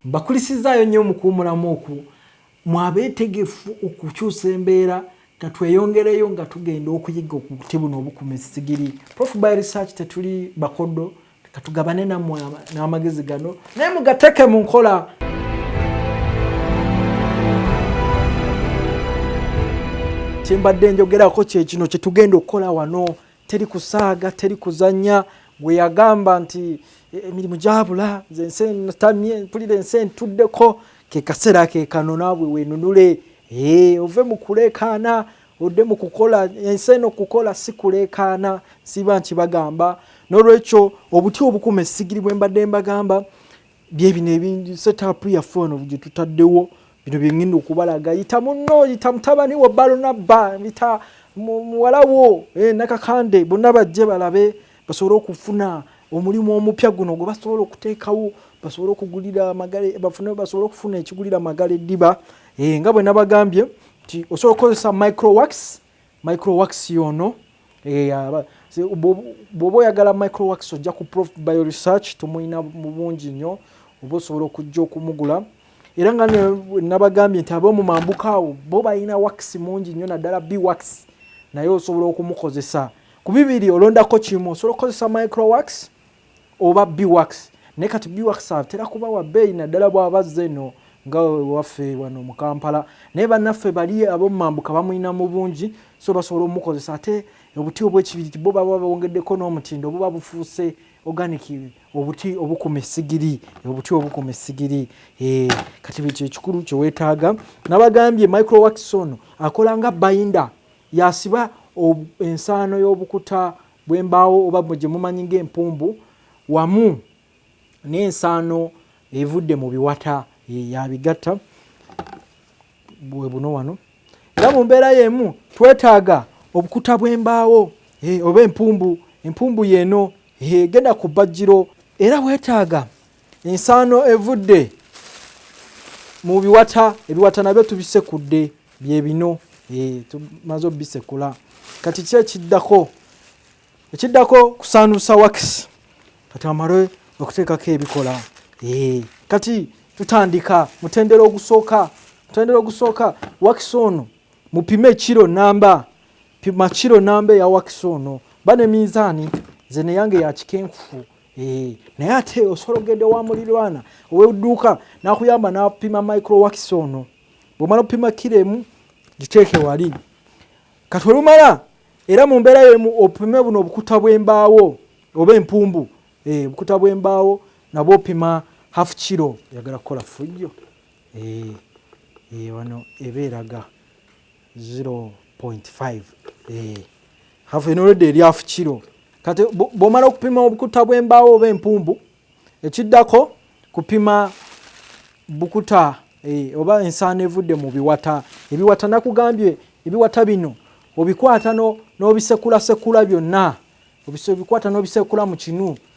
mbakulisizaayo nnyo mukuwumulamu oku mwabeetegefu okukyusa embeera katweyongereyo nga tugenda okuyiga okuti buno obukuma esigiri prof by research tetuli bakodo katugabane namwe n'amagezi gano naye mugateke mu nkola kyembadde njogerako kyekino kyetugenda okukola wano teri kusaaga teri kuzanya gwe yagamba nti e, emirimu gyabula nzensenatamye mpulira ensi entuddeko kekaseera kekano naabwe wenunule ove mukulekaana odde mu kukola ensi eno kukola si kuleekaana siba nkibagamba n'olwekyo obuti obukuma essigiri bwe mbadde mbagamba byebino ebingi setapu yaffe ono gye tutaddewo bino byengenda okubalaga yita munno yita mutabani wo balonabba yita muwala wo eh, nakakande bonna bajje balabe basobole okufuna omulimu omupya guno gwe basobola okuteekawo basobole okugulira amagale bafune basobole okufuna ekigulira amagala eddiba Hey, eh, nga bwe nabagambye nti osobola okukozesa microwax microwax yono eh, bwoba oyagala microwax ojja ku prof bio research tumulina mu bungi nnyo oba osobola okujja okumugula era nga nabagambye nti ab'omu mambuka awo bo balina wax mungi nnyo naddala bwax naye osobola okumukozesa ku bibiri olondako kimu osobola okukozesa microwax oba biwax naye kati biwax atera kuba wa bbeeyi naddala bw'aba azze eno nga waffe wano mu kampala naye bannaffe bali abomumambuka bamulina mu bungi so basobola omukozesa ate obuti obwekibiriti bo baba bawongeddeko n'omutindo buba bufuuse organic obuti obukuma esigiri obuti obukuma esigiri eh, kati bwekyo ekikulu kyewetaaga nabagambye microwakson akola nga bayinda yasiba ensaano y'obukuta bw'embaawo oba gye mumanyi ng'empumbu wamu n'ensaano evudde mu biwata yabigatta bwe buno wano era mu mbeera y'emu twetaaga obukuta bw'embaawo oba empumbu empumbu yeeno egenda ku bajjiro era weetaaga ensaano evudde mu biwata ebiwata nabyo tubisekudde byebino eh, tumaze obisekula kati ki ekiddako ekiddako kusaanuusa wakisi kati amale okuteekako ebikola eh, kati tutandika mutendera ogusooka mutendera ogusooka wakisi ono mupime kiro namba pima kiro namba eya wakisi ono ba ne minzaani nze neyange yakikenkufu Eh, naye ate osobola okugenda ewa mulirwana owedduuka nakuyamba napima microwax ono bwomala okupima kiro emu giteeke wali kati olumala era mu mbeera yemu opime buno obukuta bw'embaawo oba empumbu eh, obukuta bw'embaawo nabwo opima half kiro yagala kukola fujjo eh, wano eba eraga 0.5 eh hafu eno rede eri hafu kilo kati bwomala okupima obukuta bw'embaawo oba empumbu ekiddako kupima bukuta e, oba ensaano evudde mu biwata ebiwata nakugambye ebiwata bino obikwata n'obisekulasekula byonna obikwata n'obisekula mu kinu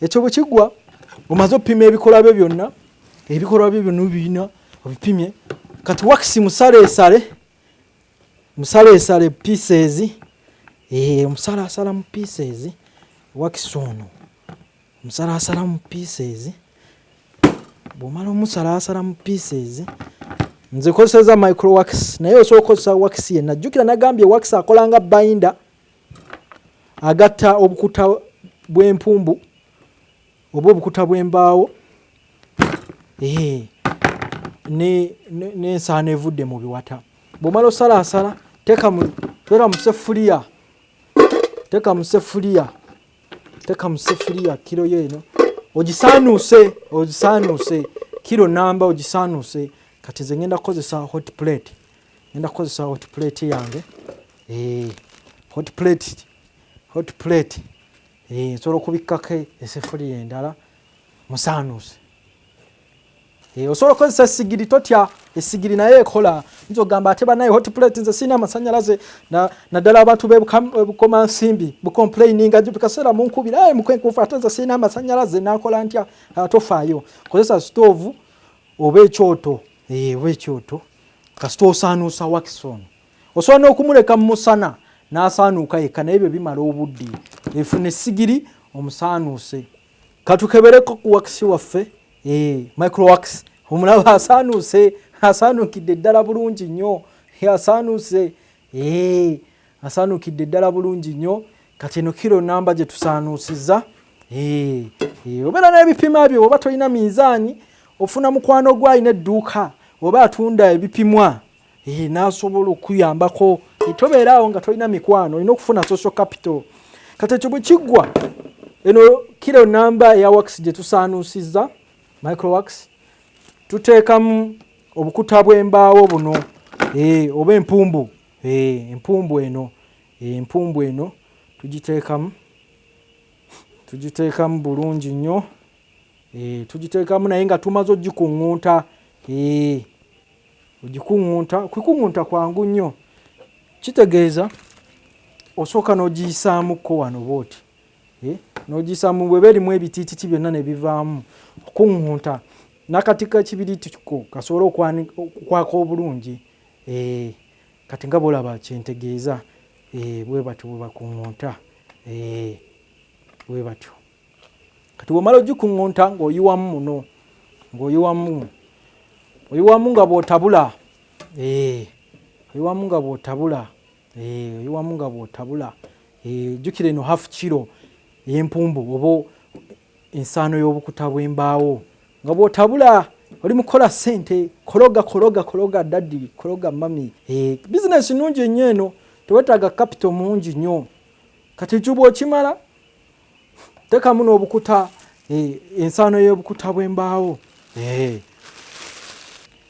ekyo bwe kigwa omaze opima ebikolwa byo byonna ebikolwa byo byonna obirina obipimye kati wakisi musaleesale musaleesale pieces eh, omusalaasala mu pieces wakisi ono omusalaasala mu pieces bwomala omusalaasala mu pieces nze kozeseza micro wax naye osobola okozesa wax yenna jjukira nagambye wax akolanga binda agatta obukuta bw'empumbu oba obukuta bw'embaawo n'ensaano evudde mu biwata bw'omala osalaasala teeka mu sefuliya teeka mu sefuliya teeka mu sefuliya kiro yo eno ogisaanuuse ogisaanuuse kiro namba ogisaanuuse kati ze ngenda kukozesa hot plate ngenda kukozesa hot plate yange eh, hot plate hot plate eh, nsobola okubikkako esefuliya endala musaanuuse eh, osobola okukozesa sigiri totya esigiri naye ekola nza ogamba ate banaye hot plate nze sirina amasanyalaze naddala abantu bebukoma nsimbi bucomplaininga bikaseera munkubira aye mukwenkufu ate nze sirina amasanyalaze nakola ntya atofaayo kozesa stoovu oba ekyoto oba ekyoto kasita osaanuusa wakisi ono osobola n'okumuleka mu musana n'asaanuuka yekka naye byo bimala obudde efuna essigiri omusaanuuse katukebereko ku wakisi waffe eh, microwax omulaba asaanuuse asaanuukidde ddala bulungi nnyo asaanuuse eh. Asaanukidde ddala bulungi nnyo kati eno kiro namba gye tusaanuusizza eh, eh, obeera n'ebipima byo oba tolina minzaani ofuna mukwano gwe alina edduuka oba atunda ebipimwa eh, n'asobola okuyambako tobeera awo nga tolina mikwano olina okufuna social capital kati ekyo bwe kiggwa eno kiro namba eya wax gye tusaanuusizza microwax tuteekamu obukuta bw'embaawo buno oba empumbu Eeh empumbu eno empumbu eno tugiteekamu tugiteekamu bulungi nnyo eeh tugiteekamu naye nga tumaze ogikuŋŋunta eeh ogikuŋŋunta okukuŋŋunta kwangu nnyo kitegeeza osooka n'ogiyisaamuko wano bwoti eh, n'ogiyisaamu bweba erimu ebitiititi byonna ne bivaamu okuŋŋunta n'akati k'ekibiriiti ko kasobole okukwaka obulungi Eeh kati nga bwolaba kyentegeeza eeh bwebatyo bwebakungunta eeh bwebatyo kati bwomala ogikungunta ng'oyiwamu muno ng'oyiwamu oyiwamu nga bw'otabula eeh oyiwamu nga bw'otabula eeh oyiwamu nga bw'otabula eeh jjukira eno half kiro ey'empumbu oba ensaano y'obukuta bw'embaawo nga bw'otabula oli mukola sente kologa kologa kologa daddi kologa mami eh, bizinesi nnungi ennyo eno tewetaaga kapito mungi nnyo kati ejubu okimala tekamu n'obukuta eh, ensaano y'obukuta bw'embaawo eh.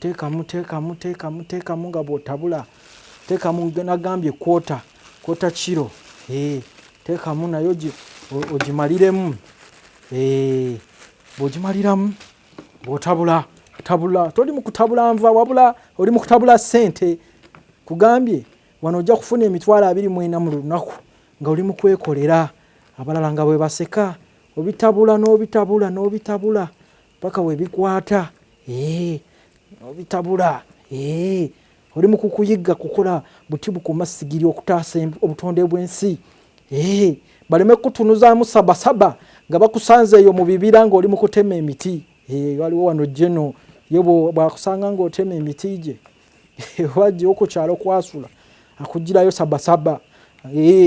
teekamu teekamu teekamu teekamu nga bwotabula teekamu nagambye kwota kwota kiro eh, teekamu naye ogimaliremu eh, bwogimaliramu bwotabula tabula toli mukutabula nva wabula oli mukutabula sente kugambye wano ojja kufuna emitwalo abiri mwena mu lunaku nga oli mukwekolera abalala nga bwebaseka obitabula n'obitabula n'obitabula paka webikwata eh, obitabula eh, oli mukukuyiga kukola buti bukuma sigiri okutaasa obutonde bwensi eh, baleme kutunuzamu sabasaba nga bakusanze eyo mu bibira ngaoli mukutema emiti waliwo wano jeno ye bwakusanga ngaotema emiti gye wajja okukyalo kwasula akugirayo sabasaba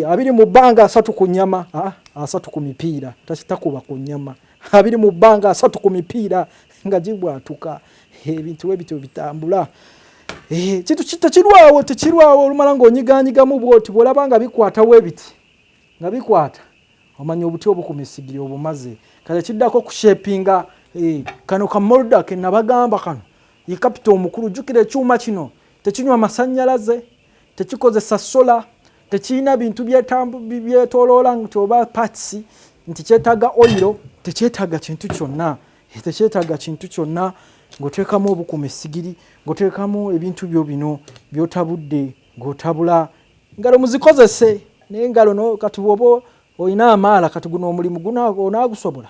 abiri mu bbanga asatu ku nyama ah, asatu ku mipiira takitakuba ku nyama abiri mu bbanga asatu ku mipiira nga gibwatuka ebintu we bityo bitambula eh, kintu tekirwawo tekirwawo olumala ng'onyiganyigamu bwoti bw'olaba nga bikwata we biti nga bikwata omanya obuti obukuma esigiri obumaze kati ekiddako okushepinga eh, kano ka molda ke nabagamba kano ye kapita omukulu jjukira ekyuma kino tekinywa masannyalaze tekikozesa sola tekirina bintu byetoloola nti oba parts nti kyetaaga oyiro tekyetaaga kintu kyonna eh, tekyetaaga kintu kyonna ng'oteekamu obukuma essigiri ng'oteekamu ebintu byo bino by'otabudde ng'otabula ngalo muzikozese naye ngalo no kati bwoba olina amaala kati guno omulimu guno onaagusobola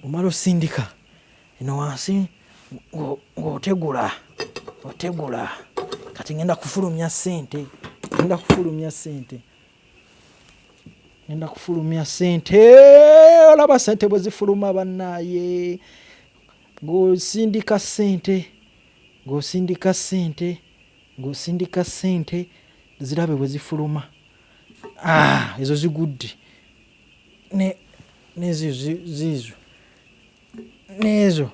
bwomala osindika eno wansi ng'otegula otegula kati ngenda kufulumya sente ngenda kufulumya sente ngenda kufulumya sente olaba sente bwe zifuluma bannaaye ng'osindika sente ng'osindika sente ng'osindika sente zirabe bwe zifuluma ah, ezo zigudde ne nezo zizo nezo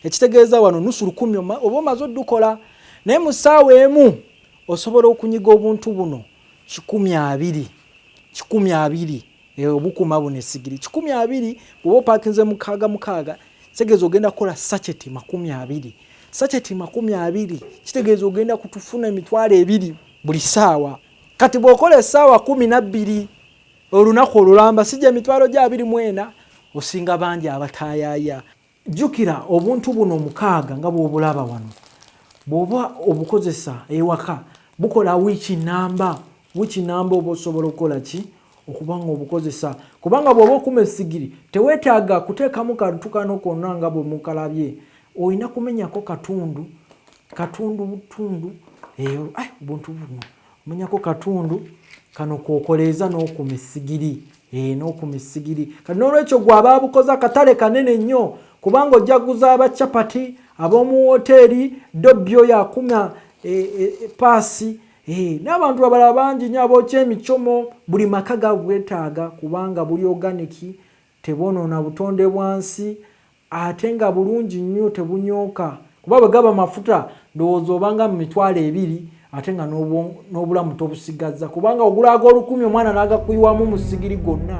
ekitegeeza wano nusu lukumi oba omaze odukola naye mu ssaawa emu osobola okunyiga obuntu buno kikumi abiri kikumi abiri eh, obukuma buno esigiri kikumi abiri bwoba opakinze mukaaga mukaaga kitegeeza ogenda kukola sacheti makumi abiri sacheti makumi abiri kitegeeza ogenda kutufuna emitwalo ebiri buli ssaawa kati bw'okola essaawa kumi nabbiri olunaku olulamba si gye mitwalo gya abiri mu ena osinga bangi abataayaaya jjukira obuntu buno omukaaga nga bw'obulaba wano bw'oba obukozesa ewaka bukola wiiki namba wiiki namba oba osobola okukola ki okuba nga obukozesa kubanga bw'oba okuma esigiri teweetaaga kuteekamu kantu kano konna nga bwe mukalabye olina kumenyako katundu katundu butundu eyo eh, obuntu buno munyako katundu kano kokoleeza n'okuma essigiri eh, n'okuma essigiri kati n'olwekyo gwe aba abukoze akatale kanene nnyo kubanga ojja kuguza abacapati ab'omu wooteeri dobbi oyo akuma eh, eh, paasi n'abantu abalala bangi nyo abookya emicomo buli maka gabwetaaga kubanga buli oganiki Tebwonoona butonde bwa nsi ate nga bulungi nnyo tebunyooka kuba bwe gaba mafuta ndowooza obanga mu mitwalo ebiri ate nga n'obulamu tobusigazza kubanga ogula ag'olukumi omwana n'agakuyiwamu mu sigiri gonna.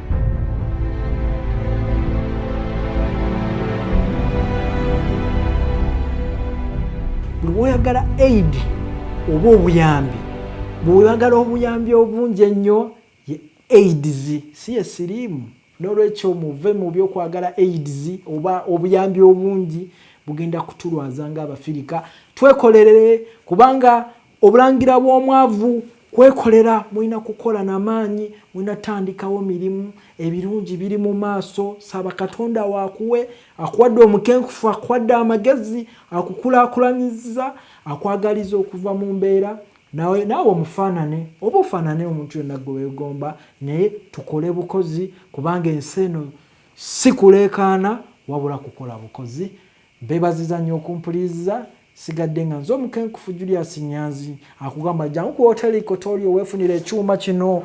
buli woyagala aid oba obuyambi bwewagala obuyambi obungi ennyo ye aids si yesiriimu nolwekyo muve mu byokwagala aids oba obuyambi obungi bugenda kutulwaza nga abafirika twekolerere kubanga Obulangira bw'omwavu kwekolera mulina kukola na maanyi mulina tandikawo mirimu ebirungi biri mu maaso saba katonda waakuwe akuwadde omukenkufu akuwadde amagezi akukulakulanyiza akwagaliza okuva mu mbeera nawe naawe omufaanane oba ofaanane omuntu yonna gwe weegomba naye tukole bukozi kubanga ensi eno si kuleekaana wabula kukola bukozi Mbebaziza nnyo okumpuliriza sigadde nga nze omukenkufu Julius Nyanzi akugamba jangu ku hoteli Kotoli owefunira ekyuma kino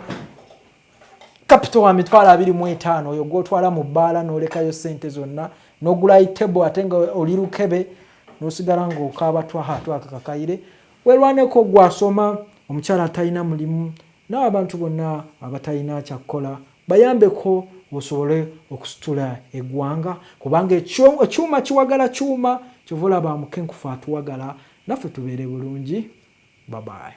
kapito wa mitwalo abiri mu etaano oyo gwotwala mu bbaala n'olekayo ssente zonna n'ogulayi tebo ate nga oli lukebe n'osigala ng'okaaba twaha twaka kakayire werwaneko gwasoma omukyala atalina mulimu n'abantu bonna abatalina kyakkola Bayambeko osobole okusitula egwanga kubanga ekyuma kiwagala kyuma kyova olaba mukenkufu atuwagala naffe tubeere bulungi babaye.